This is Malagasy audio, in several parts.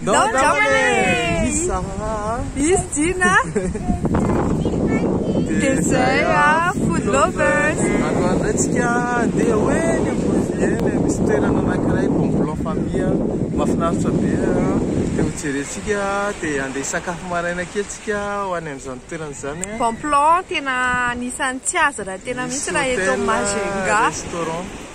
Nao Jamale! Isa! Is Gina! Dia zay a, food lovers! Ankoatrantsika dia hoe ny Ouvrier misy toerana anankiray bon plan famille mahafinaritra be dia hojerentsika dia handeha hisakafo maraina kely tsika ho any amin'izany toerana izany a. Bon plan tena anisan'ny tsy azo raha tena misy raha eto Majunga. Misy hotel, restaurant.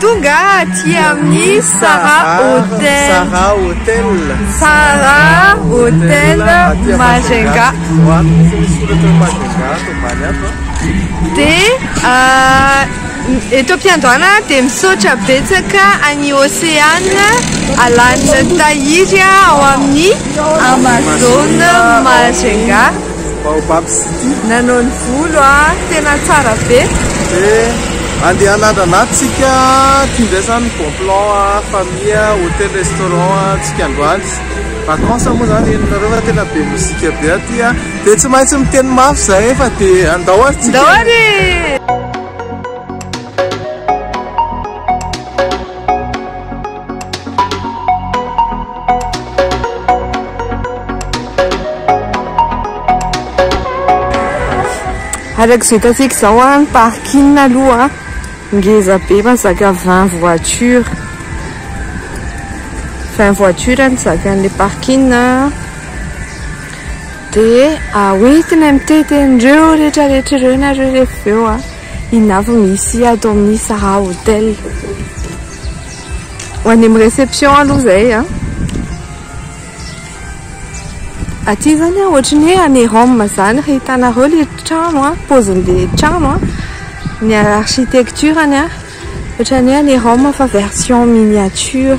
Tonga aty amin'ny Sara Hotel. Sara Hotel. Sara Hotel Majunga. Dia euh, eto am-piandohana dia misaotra betsaka an'i Océane Alan Tahiry ao amin'ny Amazon Majunga. Baobab city. Nanao ny volo a! Tena tsara be! Eh! Andeha hanandrana ato tsika Ty indray zany bon plan a Famille, hotel, restaurant a tsika androany Vacances moa zany henonareo fa tena be mozika be aty a Dia tsy maintsy miteny mafy zahay fa dia andao ary tsika Andao ary e! Araka izay hitantsika izao ny parking aloha ngeza be mazaka 20 voiture 20 voiture ny zakan'ilay parking dia hoentina mitety an'ireo rehetra rehetra ireo nareo rehefa avy eo inona avy misy ato amin'ny Sahà hotel Ho any amin'ny réception aloha izay an. Aty izany an, ohatry ny hoe any Rome izany raha hitanareo ilay trano an, paozin'ilay trano an, ny architecture-ny an, ohatry ny hoe any Rome fa version miniature.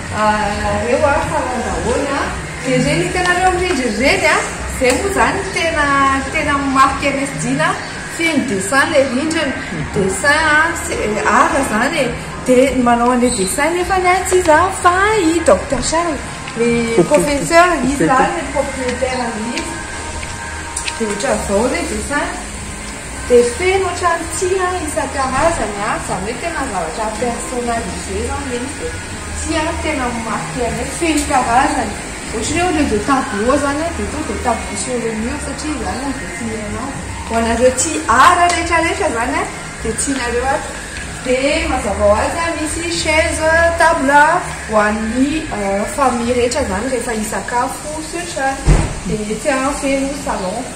Reo ah fa lalao daholo ah. Dia ireny hitanareo mirindra ireny ah, izay moa izany no tena tena amin'ny maha PMS Dina ah, feno dessin ilay rindrina, dessin ah, art izany e, dia ny manao an'ilay dessin nefany ah tsy iza fa i Docteur Charles, le professeur, izy izany le propriétaire an'ilay izy, dia ohatran'izao ilay dessin. Dia feno otrany tia isan-karazany a, zany hoe tena zavatra personnalisé zany ve izy dia tia tena mi marqué anay feno karazany ohatry ny hoe au lieu de tableau zany a dia tonga dia tableau sur le mur satria izany no dessiner anazy ho anareo tia art rehetra rehetra zany a dia tianareo aby dia mazava ho azy a misy chaise table ho an'ny famille rehetra zany rehefa hisakafo sy otrany dia tia feno salon.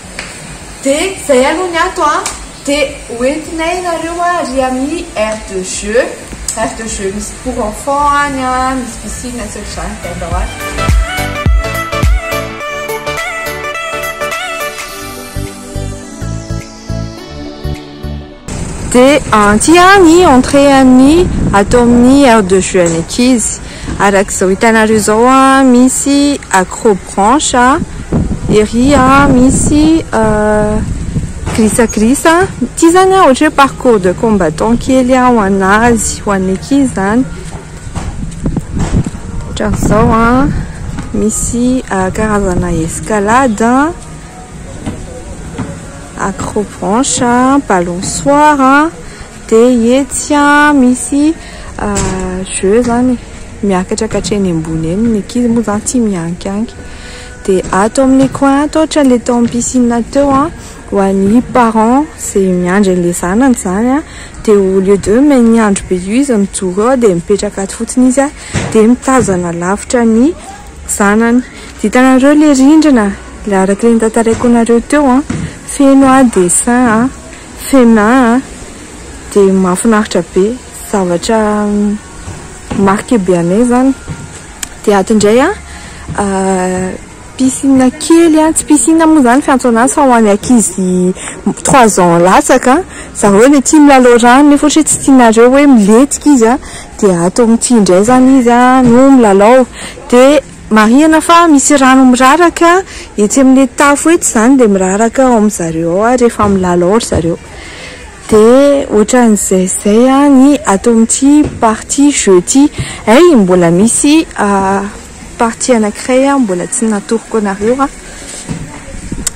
Dia izay aloha ny ato an! Dia ho entinay nareo ary amin'ny aire de jeu, aire de jeu misy pour enfants any an, misy piscine sy ohatr'izany dia andao any. Dia aty ihany ny entrée an'ny ato amin'ny aire de jeux an'ny ankizy. Araka izao hitanareo izao misy accro branche ery misy glissa glissa. Ity izany ohatra hoe parcours de combattant kely ho an'azy, ho an'ny ankizy izany. Ohatran'izao misy karazana escalade. Accro branche, balançoire, dia etsy misy jeux izany miakatra hatreny ambony eny, ny ankizy moa izany tia miankianky, dia ato amin'ny coin ato ohatra ilay tao amin'ny piscine teo ho an'ny parents izay miandry an'ilay zanany izany dia au lieu de miandry be io izy mijoro eo dia mipetraka ato fotsiny izy dia mitazana lavitra ny zanany. Vitanareo le rindrina le araka le notantaraiko anareo teo an, feno an dessin an, fena an, de mahafinaritra be, zavatra marque be anay zany, de ato indray an piscine kely an, tsy piscine moa zany fiantso anazy fa ho an'ny ankizy trois ans latsaka, zareo le tia milalao rano nefa ohatra hoe tsy tianareo hoe milentika izy an, de ato amin'ity indray zany izy an no milalao de. Marihina fa misy rano miraraka etsy amin'ny tafo etsy izany dia miraraka ao amin'ny zareo ao ary rehefa milalao ao ry zareo dia ohatran'izay izay ny ato amin'ity partie jeux ity hay mbola misy partie anankiray mbola tsy natoroko anareo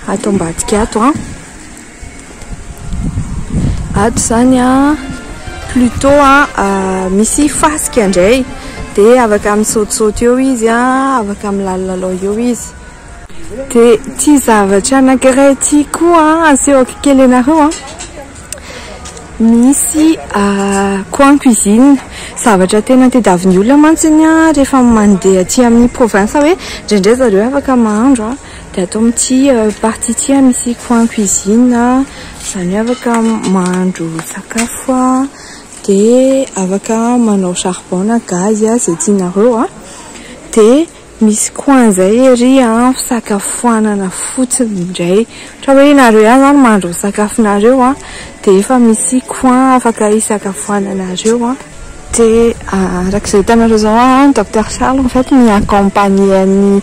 ato ambadika ato an. Ato izany an, plutot an, ah, misy fasika indray, dia afaka misaotisaoty eo izy an, afaka milalalalao eo izy. Dia ity zavatra anankiray ity koa an, asehoko kely anareo an, misy ah, coin cuisine, zavatra tena tadiavin'ny olona mantsy iny an, rehefa mandeha aty amin'ny province hoe, indraindray zareo afaka mahandro an. Dia ato amin'ity partie ity misy coin cuisine, izany hoe afaka mahandro sakafo dia afaka manao charbon na gaz izay tianareo, dia misy coin izay ery fisakafoanana fotsiny indray, ohatra hoe ianareo ihany izany mahandro ny sakafonareo dia efa misy coin afaka hisakafoananareo, dia araka izay hitanareo izao an, Docteur Charles en fait mi-accompagner an'i.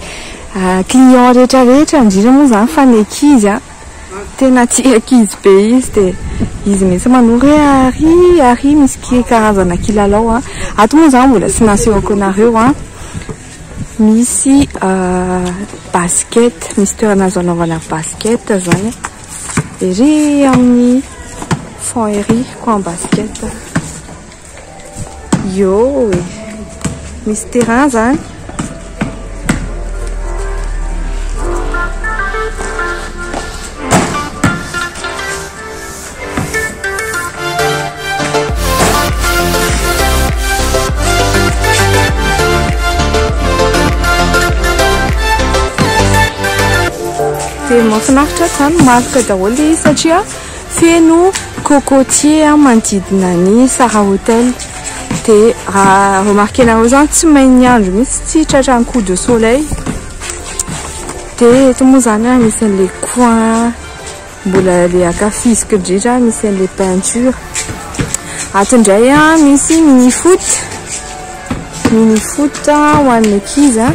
Client rehetra rehetra indrindra moa zany fa ny ankizy an, tena tia ankizy be izy de izy mihitsy manoro hoe ary ary misy karazana kilalao an, ato moa zany mbola tsy nasehoko anareo an, misy basket, misy toerana azo anaovana basket zany an, ery amin'ny fond ery coin basket. Ioo e! Misy terrain zany? Dia mahafinaritra zany, mahafinaritra daholo ilay izy satria. Feno cocotier manodidina ny Sahra Hotel dia raha remarquer-nareo zany tsy main'ny andro mihitsy tsy tratra ny coup de soleil dia eto moa zany an misy an'ilay coin mbola le ankafiziko indrindra misy an'ilay peinture ato indray an misy mini foot mini foot ho an'ny ankizy an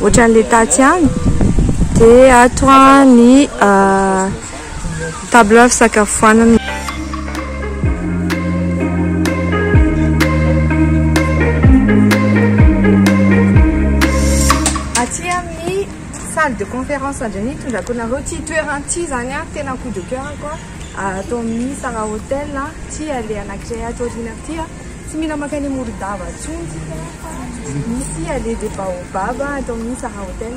Ohatran'ilay tatsy ihany. Dia ato ny table fisakafoanana. salle de conférence indray ny hitondrako anareo ity toerana ity izany a tena coup de coeur-ko a ato amin'ny Sara Hotel ity ilay anankiray ato aoriana ity a Tsy mila mankany Morondava intsony tsika fa misy allée des baobabs atao amin'ny Sahara Hotel.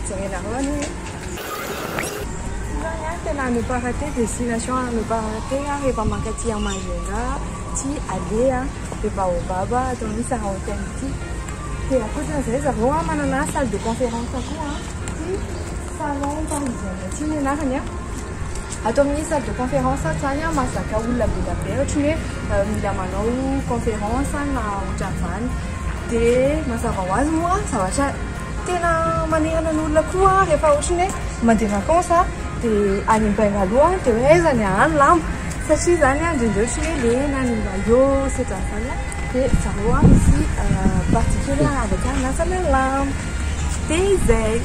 Jerenareo any hoe. Izany any tena à ne pas rater, destination à ne pas rater rehefa mankaty à Majunga ity allée des baobabs atao amin'ny Sahara Hotel ity. Dia ankoatra an'izay zareo manana salle de conférence koa ity. Salon parisien ity ny anarany a. Ato amin'ny salle de conférence ato izany a, mahazaka olona be dia be ohatry ny hoe mila manao conférence na ohatran'izany. Dia mazava ho azy moa zavatra tena manerana ny olona koa rehefa ohatry ny hoe mandeha vacance a dia any Bengalow a dia hoe aiza ny haha ny lamba satria izany a indraindray ohatry ny hoe lena ny maillot sy ohatran'izany a. dia zareo a misy partie kely a avy akany miasana lamba dia izay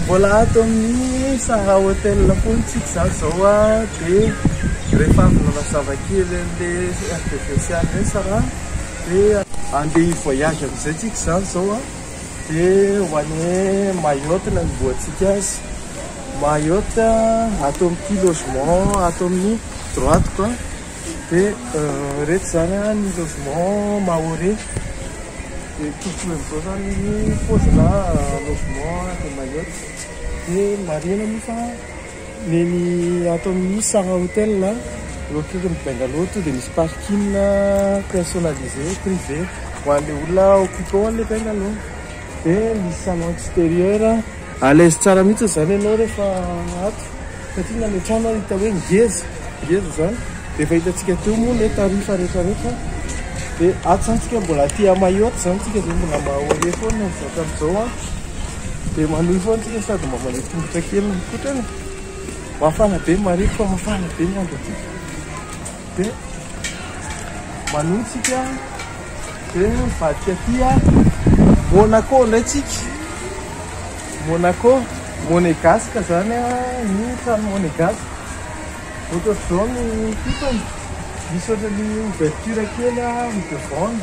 Mbola ato amin'ny Sahara Hotel foana isika izany izao a, dia rehefa avy nanazava kely an'ilay RDV Océane ireny Sarah dia handeha hi-voyage amin'izay isika izany izao a, dia ho any Mayotte no anombohantsika azy, Mayotte ato amin'ity logement ato amin'ny droite ko a. Dia ireto izany ny logement maore. Dia tokony amin'izao izany ny paozina logement de Mayotte. Dia marihina moa fa ny eny ato amin'ny Sahra Hotel na eo akaikin'ny Bungalow tonga dia misy parking personnalisé privé ho an'ilay olona occupant an'ilay Bungalow. Dia misy salon extérieur. A l'aise tsara mihitsy izany ianao rehefa ato satria na any an-trano ary hita hoe ngeza, ngeza izany. Dia efa hitantsika teo moa ilay tarifa rehetra rehetra. Dia ato izany tsika mbola aty à Mayotte izany tsika dia mbola mahoria foana ny zakan'izao an. Dia manohy foana tsika sady mba mandeha tongotra kely mikotrana. Mafana be ny marefo fa mafana be ny andro aty. Be manohy tsika de mivadika aty a Monaco ndray tsika Monaco Monegasque zany a ny trano Monegasque ohatr'izao ny kitany misy ohatran'ny ouverture kely a ny devant-ny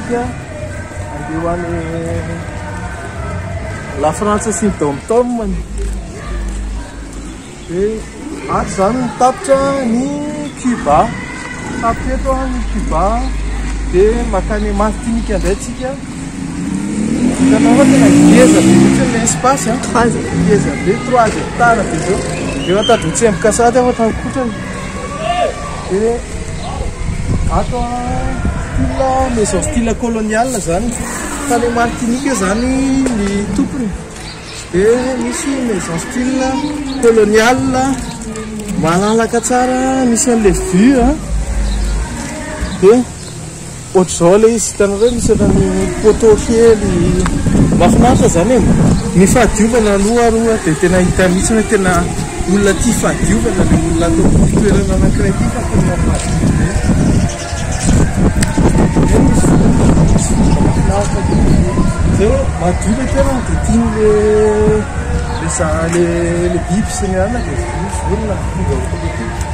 Dia andeha ho any La Frantsa sy ny dom-tomany. Dia ato izany ny tapitra ny Cuba. Tapitra eto ny Cuba. Dia makany Martinika indray tsika. Hitanao fa tena ngeza be mihitsy ilay espace an. Ngeza be, trois hectares be izao. Efa tady mitsemboka sahady aho fa tany kotrany. Dia ato style maison style colonial izany. Tany amin'ny Martinique izany ny tompony. Dia misy maison style colonial malalaka tsara misy an'ilay vue. Dia Ohatr'izao ilay izy, hitanareo ve misy ohatran'ny poteau kely mahafinaritra izany e? Ny fahadiovana aloha ary ho'a dia tena hita mihitsy hoe tena olona tia fahadiovana ilay olona ato amin'ity toerana anankiray ity fa tena madio be. Eny misy vovoka, misy vovoka mahafinaritra kely izay hoe madio ilay toerana dia tian'ilay le za le le biby sy ny anana dia vonona tonga eto amin'ity.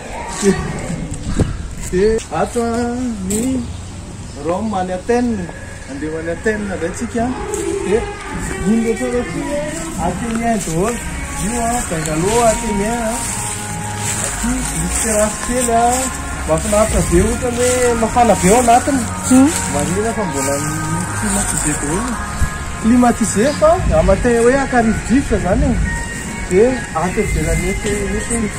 Dia ato ny Rome any Athènes, handeha ho any Athènes indray tsika, dia iny rehetra ireo ity hoe Athénien daholo, io an, Bengalo Athénien an, aty misy terasy kely an, mahafinaritra be ohatra hoe mafana be ao anatiny, marihina fa mbola climatisé daholo, climatisé fa matin hoe ankarivodrivotra izany e, dia aty ivelany etsy.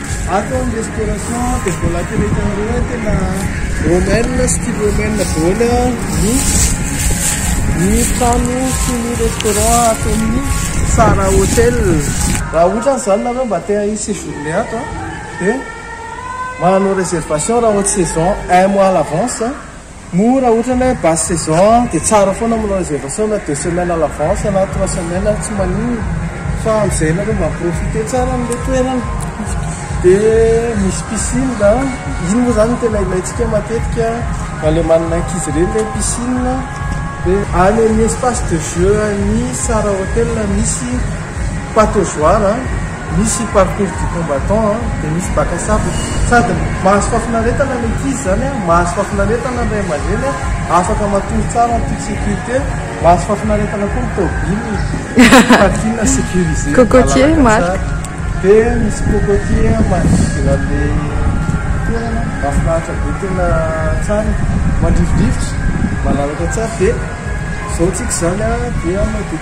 Ato ny restauration dia mbola tena hitanareo hoe tena romaine, style romaine daholo ny ny trano sy ny restaurant ato amin'ny Sara Hotel. Raha ohatra izany nareo mba te hi séjourner ato dia manao réservation raha haute saison un mois à l'avance. Moa raha ohatra ny hoe basse saison dia tsara foana manao réservation na deux semaines à l'avance na trois semaines ary tsy maninona fa amin'izay ianareo mba mi-profiter tsara an'ilay toerana. Dia misy piscine an, iny moa izany no tena ilaintsika matetika na ilay manana ankizy ireny ilay piscine dia any amin'ny espace de jeu an'ny Sara Hotel misy pataugeoire. Misy parcours du combattant an, dia misy bac à sable, sady mahazo fahafinaretana ny ankizy izany an, mahazo fahafinaretana ny ray aman-dreny an, afaka matory tsara en toute sécurité, mahazo fahafinaretana koa ny tôbily, parking sécurisé, Cocotier, Marc. Dia misy cocotier an, manodidina an'ilay toerana, mahafinaritra be tena tsara, mandrivondrivotra, malalaka tsara, dia izao tsika izany an, dia madio.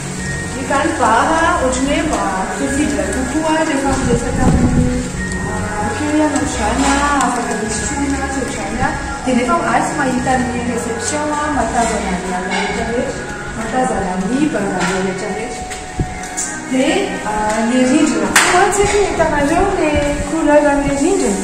Izany bara ohatry ny hoe mba fiafidy kokoa rehefa miresaka amin'ny accueil ianao izany an, afaka misy tromona tsy ohatr'izany an, dia nefa ahy tsy mahita ny reception an, mahatazana ny olona rehetra rehetra, mahatazana ny barabe rehetra rehetra. Dia ilay rindrina koa tsy haiko na hitanareo ilay couleur an'ilay rindrina?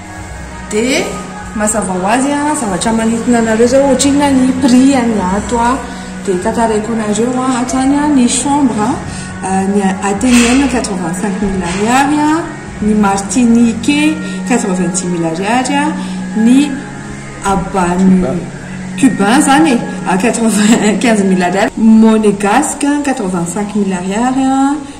Dia mazava ho azy a, zavatra manintona anareo zao ohatrinona ny prix an'ny ato a, dia tantaraiko anareo a, ato zany a ny chambre a, ny atenium quatre vingt cinq mille ariary a, ny martinique quatre vingt dix mille ariary a, ny habano cubain zany e quatre vingt quinze mille ariary, monegasque quatre vingt cinq mille ariary a.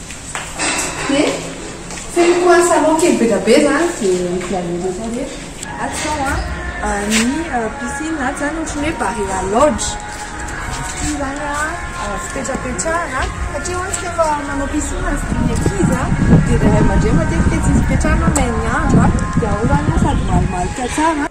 Dia feniko an salon kely bedabe zany dia milalena zao rehetra. Ato zao an ny piscine ato zany ohatran'ny hoe barea lodge. Ity zany an fipetrapetrahana satria hono tsy efa manao piscine ny ankizy dia ny ray aman-dreny matetika tsy misy fipetrahana may ny andro an dia ao zany an sady malomaloka tsara.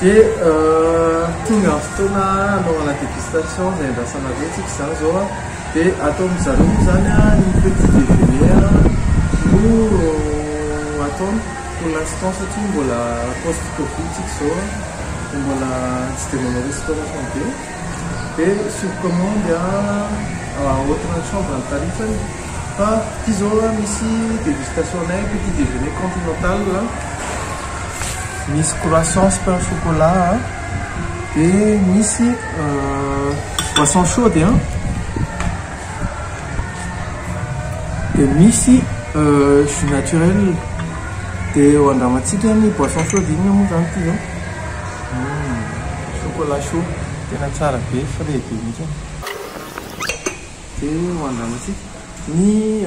Dia tonga ny fotoana hanaovana dégustation izay andrasanareo tsika izany izao an dia ataon'ny zareo moa izany ny petit déjeuner no ataony Pour l'instant satria mbola post covid tsika izao an, dia mbola tsy dia manao restauration be, dia sur commande an autre chambre ny tarifany, fa ity izao an misy dégustation nay petit déjeuner continental an, misy croissants pain au chocolat an, dia misy boisson chaude an. Dia misy jus naturel, dia eo andramantsika ny boisson chaude, inona moa izany ity izao? Chocolat chaud, tena tsara be, frais be mihitsy. Dia eo andramantsika ny.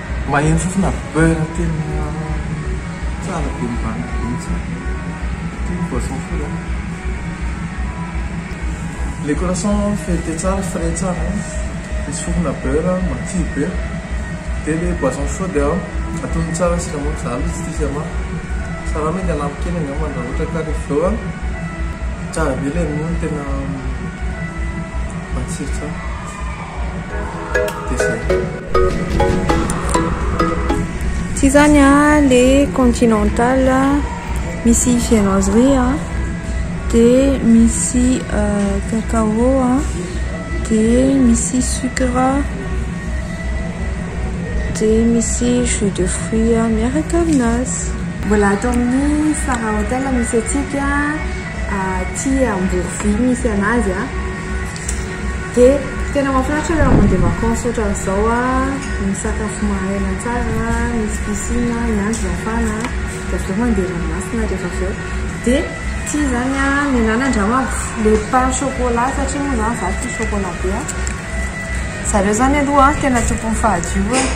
Maheno fofona beurre tena tsara be mivantana be mitsy ity boisson fou a. Le croissant feuilleté tsara frais tsara a, misy fofona beurre matsiro be, de le boisson chaude a atono tsara siramamy za aloha tsy tia siramamy fa raha mety anampy kely angambany raha ohatra ka refa eo a. Tsara be le ronono tena matsiro tsara. Tsy izany an, le continental misy viennoiserie an, dia misy cacao an, dia misy sucre, dia misy jus de fruit miaraka amin'azy. Mbola ato amin'ny Star Hotel misy antsika aty Amborovy misy an'azy an. Dia tena mahafinaritra raha mandeha vacances ohatran'izao an, misakafo maraina tsara, misy piscine, miandry mafana dia avy eo mandeha ranomasina rehefa avy eo. Dia ity izany an, ny an'ala angamba le pain chocolat satria moa izany izaho tia chocolat be an. Zareo izany aloha an, tena tompon'ny fahadiovana,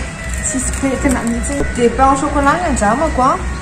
tsisy pentina mihitsy. Dia pain au chocolat ny andramako an.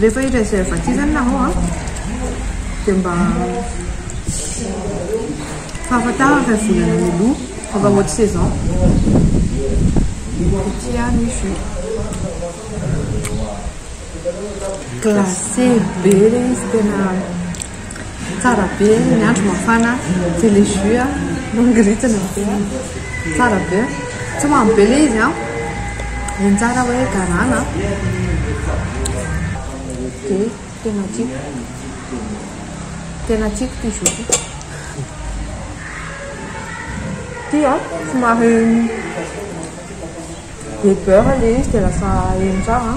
Rehefa i reservatif zany na hao an, dia mba fahafantarana fa volana mialoha fa mba haute saison. Tia ny jus. Glacé be ilay izy tena. Tsara be ny andro mafana de le jus a mangiritana be a tsara be tsy mamy be le izy a de ny tsara hoe garana de tena tiako tena tiako ty jus ty ty a somary be beurre le izy de lasa eny tsara a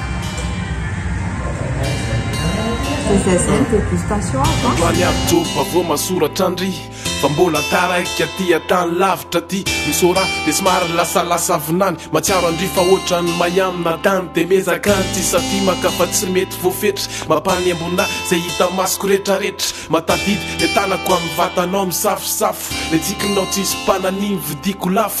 Androany avy joro fa vao masoratra an-dry Fa mbola taraiky aty an-tany lavitra aty Misy ora dia somary lasalasa vinany Mahatsiaro an-dry fa ohatran'ny may amina tany Dia miezaka ny tsy hisatimaka fa tsy mety voafetra Mampanembona ahy izay hita masoko retraretra Mahatadidy ilay tanako amin'ny vatanao misafosafo Ilay tsikinao tsisy mpananiny vidiko lafo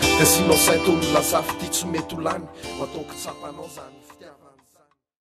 Dia asianao saintonina zafy ty tsy mety ho lany Ho ataoko tsapanao zany fitiavana izany